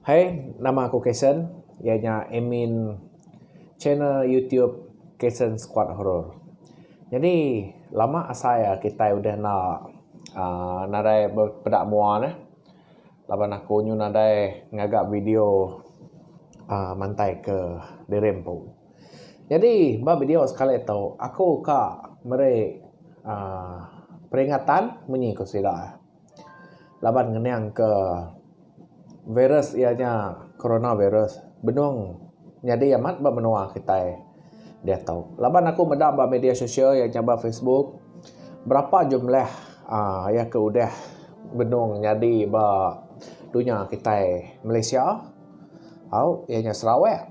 Hai, nama aku Kason, iya nya admin channel YouTube Kason Squad Horror. Nyadi lama asai a kitai udah enda aaa nadai bepeda mua neh laban aku nyu nadai ngaga video aaa mantai ke diri empu. Nyadi ba video sekali tu aku ka meri aaa peringatan munyi ku sida laban ngening ke virus iya nya corona virus benung nyadi amat ba menua kitai diatu. Laban aku meda ba media sosial iya nya ba facebook berapa jumlah aaa iya ke udah benung nyadi ba dunya kitai Malaysia au iya nya Sarawak.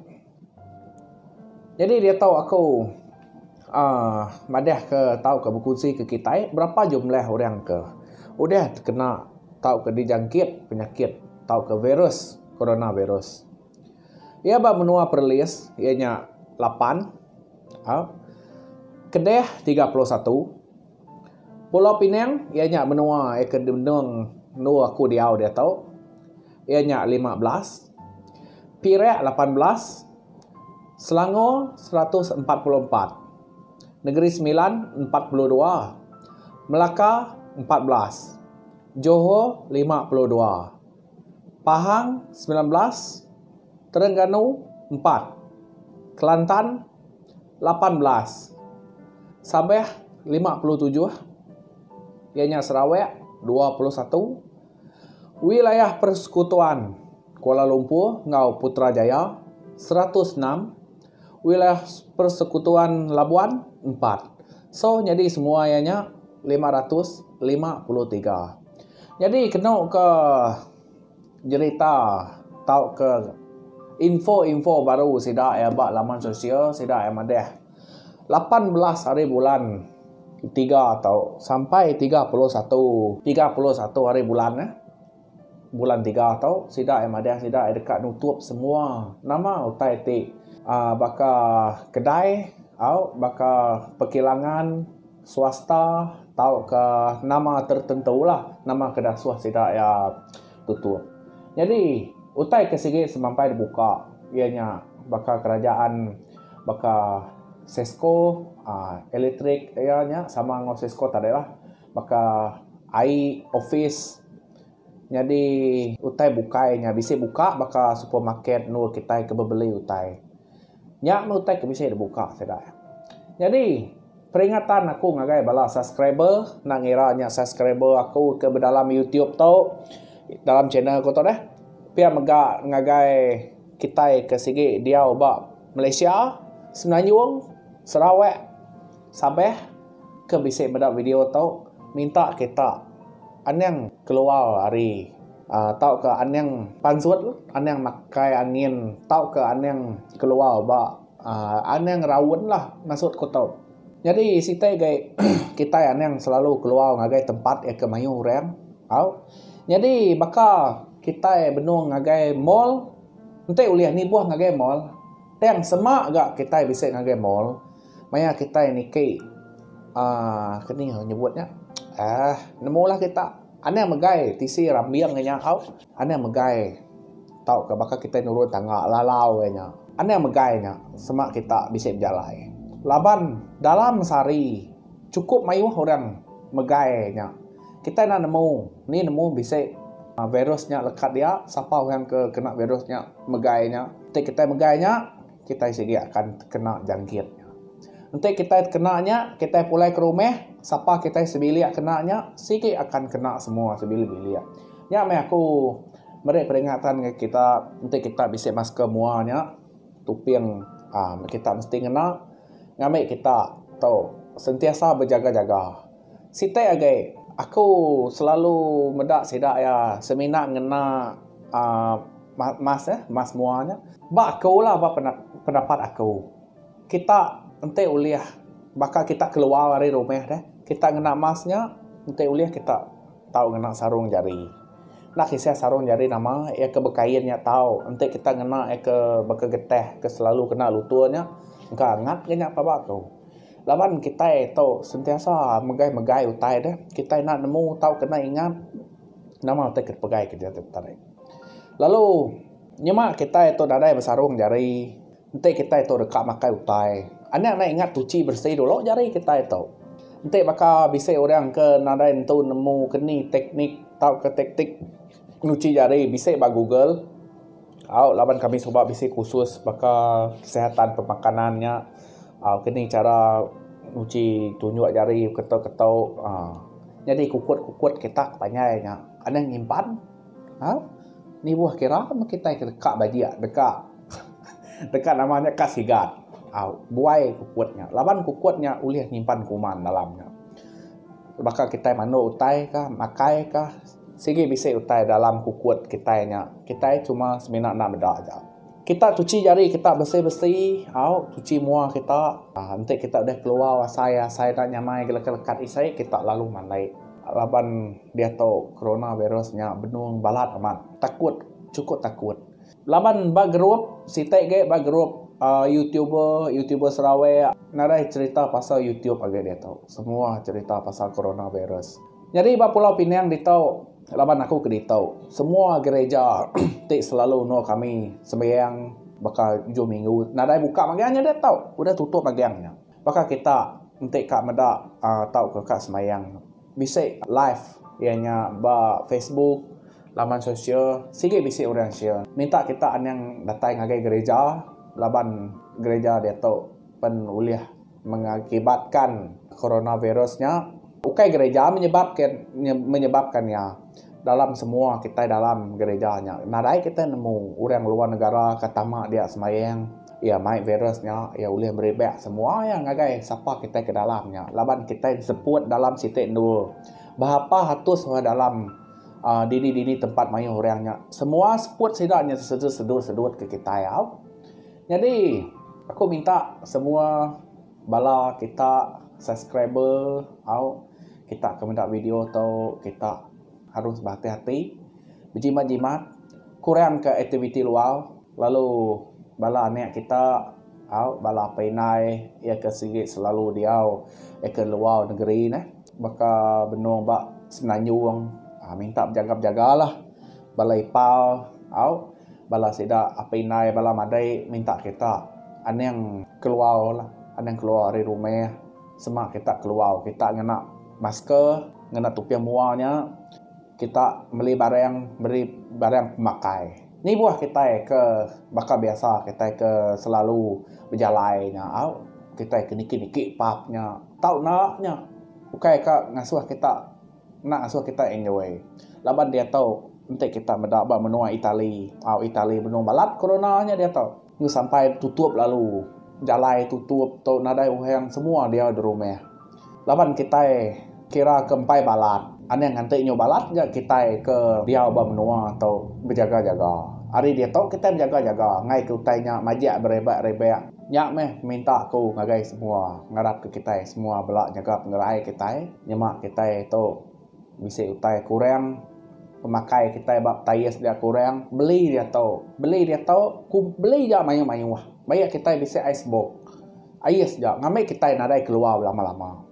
Nyadi diatu aku uhh madah ka tau ka berkongsi ka kitai berapa jumlah orang ka udah tekena tau ka dijangkit penyakit tau ka virus corona virus. Iya ba menua perlis iya nya lapan uhh kedeh tiga puluh satu. Pulau Pinang iya nya menua iya ke benung endur aku diau diatu. Iya nya lima belas, Perak lapan belas, Selangor seratus empat puluh empat, Negeri Sembilan empat puluh dua, Melaka empat belas, Johor lima puluh dua. Pahang, semilan belas, Terengganu, empat, Kelantan, lapan belas, Sabah, lima puluh tujuh, iya nya Sarawak, dua puluh satu, Wilayah Persekutuan Kuala Lumpur enggau Putrajaya, seratus enam, Wilayah Persekutuan Labuan, empat. So nyadi semua iya nya lima ratus lima puluh tiga. Nyadi kenu ke jerita tauka info-info baru sida iya ba laman sosial sida iya madah lapan belas hari bulan tiga tau sampai tiga puluh satu tiga puluh satu hari bulan eh bulan tiga tau sida iya madah sida iya deka nutup semua nama utai ti baka kedai au baka pekilangan. swasta tauka nama tertentulah nama ke dasuh sida iya tutup. Nyadi utai ke sigi semampai dibuka iya nya baka kerajaan baka CISCO aaa elektrik iya nya sama enggau CISCO tadiklah baka ai opis nyadi utai bukai nya bisi buka baka supermarket endur kitai ke bebeli utai. Nya meh utai ke bisi dibuka sida. Nyadi peringatan aku ngagai bala subscriber enda ngira nya subscriber aku ke bedalam YouTube tu dalam channel aku tu deh pia mega ngagai kitai ke sigi diau ba Malaysia, Semenanjung, Sarawak, Sabah. Ke bisi meda video tu minta kita anang keluar ari aaa tauka anang panzut anang makai angin tauka anang keluar ba aaa anang raun lah maksud ku tu. Nyadi siti gai kitai anang selalu keluar ngagai tempat iya ke mayuh orang tau. Nyadi baka kitai benung ngagai mall enti ulih nibuh ngagai mall tang sema ga kitai bisi ngagai mall. Maya kitai niki uhh keni orang nyebut nya uhh nemu lah kita anang megai tisi rambing inya au anang megai tauka baka kitai nurun tangga lalau inya nya anang megai nya sema kita bisi bejalai laban dalam sehari cukup mayuh orang megai nya kita enda nemu nih nemu bisi virus nya lekat dia sapa orang ke kena virus nya megai nya ti kitai megai nya. Kitai sigi akan tekena jangkit nya. Enti kitai tekena nya, kitai pulai ke rumah, sapa kitai sebilik kena nya, sigi akan kena semua sebilik-bilik. Nya meh aku meri peringatan ngagai kita, enti kita bisi masker mua nya, tuping uhh kita mesti ngena ngambi kita tu sentiasa bejaga-jaga. Siti agi, aku selalu meda sida iya semina ngena uhh mask eh, mask mua nya. Ba aku lah, ba pendapat aku, kita enti ulih baka kita keluar ari rumah deh, kita ngena mask nya enti ulih kita tau ngena sarung jari. Enda kisah sarung jari nama, iya ke bekain nya tau. Enti kita ngena iya ke baka getih, ke selalu kena lutur nya, engka angat nya ba aku. Laban kitai tu sentiasa megai-megai utai deh, kitai enda nemu tau kena ingat nama utai ke dipegai ke diatu tadi. Lalu nyema kitai tu nadai besarung jari, enti kitai tu deka makai utai, anek enda ingat tuchi beresi dulu jari kitai tu. Enti baka bisi orang ke nadai nentu nemu keni teknik tauka taktik nyuchi jari bisi ba google. Au laban kami suba bisi kursus baka kesihatan pemakanan nya aaa ke ning chara nguji tunjuk jari keto keto aaa nyadi kukut kukut kita ke panjai nya anang nyimpan aaa nibuh kira meh kitai ke deka bajik deka deka nama nya ka sigat aaa buai kukut nya laban kukut nya ulih nyimpan kuman dalam nya baka kitai mandu utai ka makai ka. Sigi bisi utai dalam kukut kitai nya, kitai cuma semina enda meda aja. Kita cuci jari kita besi-besi au cuci mua kita, enti kita deh keluar asai asai enda nyamai gelekat-lekat isi kita lalu mandai laban diatu coronavirus nya benung balat amat. Takut, chukup takut. Laban ba group siti agi ba group uhh youtuber youtuber Sarawak nadai cerita pasal youtube agi diatu semua cerita pasal corona virus. Nyadi ba pulau pinang ditu laban aku ke ditu semua gereja ti selalu endur kami sembiang baka ujung minggu nadai buka mega nya diatu udah tutup mega nya. Baka kita enti ka meda tauka ka semayang bisi live iya nya ba facebook laman sosial sigi bisi orang share minta kita anang datai ngagai gerija laban gerija diatu pen ulih mengakibatkan coronavirus nya ukai gerija menyebab ke menyebabkan iya dalam semua kitai dalam gerija nya nadai kita nemu orang luar negara ka tama dia semayang. Iya mai virus nya iya ulih meribak semua iya ngagai sapa kitai ke dalam nya laban kitai seput dalam siti endur. Bah apah atus orang dalam aaa dini dini tempat mayuh orang nya semua seput sida nya sedu sedu sedu ke kitai au. Nyadi aku minta semua bala kita subscriber au kita ke meda video tu kita. Harus behati-hati, bejimat-jimat, kurangka aktiviti luar lalu bala anak kita au bala apai indai iya ke sigi selalu diau iya ke luar negeri neh baka benung ba Semenanjung aaa minta bejaga-bejagalah bala ipar au bala sida apai indai bala madei minta kita anang keluarlah anang keluar ari rumah. Sema kita keluar kita ngena masker ngena tuping mua nya kita meli barang meri barang pemakai ni buah kitai ke baka biasa kitai ke selalu bejalai nya au kitai ke niki niki pub nya tau enda nya ukai ka ngasuh kita. Enda ngasuh kita enjoy laban diatu enti kita meda ba menua Italy. Au Italy benung balat corona nya diatu. Ku sampai tutup lalu jalai tutup tu nadai orang semua diau di rumah. Laban kitai kira ke empai balat anang nganti nyu balat ga kitai ke diau ba menua tu bejaga-jaga. Ari diatu kitai bejaga-jaga ngaika utai nya majak berebak-rebak. Nya meh minta aku ngagai semua ngarapka kitai semua bela nyaga pengerai kitai nyema kitai tu bisi utai kurang pemakai kitai ba tires dia kurang beli diatu beli diatu ku beli ja mayuh mayuh bayak kitai bisi ice box ais ja ngambi kitai nadai keluar belama lama.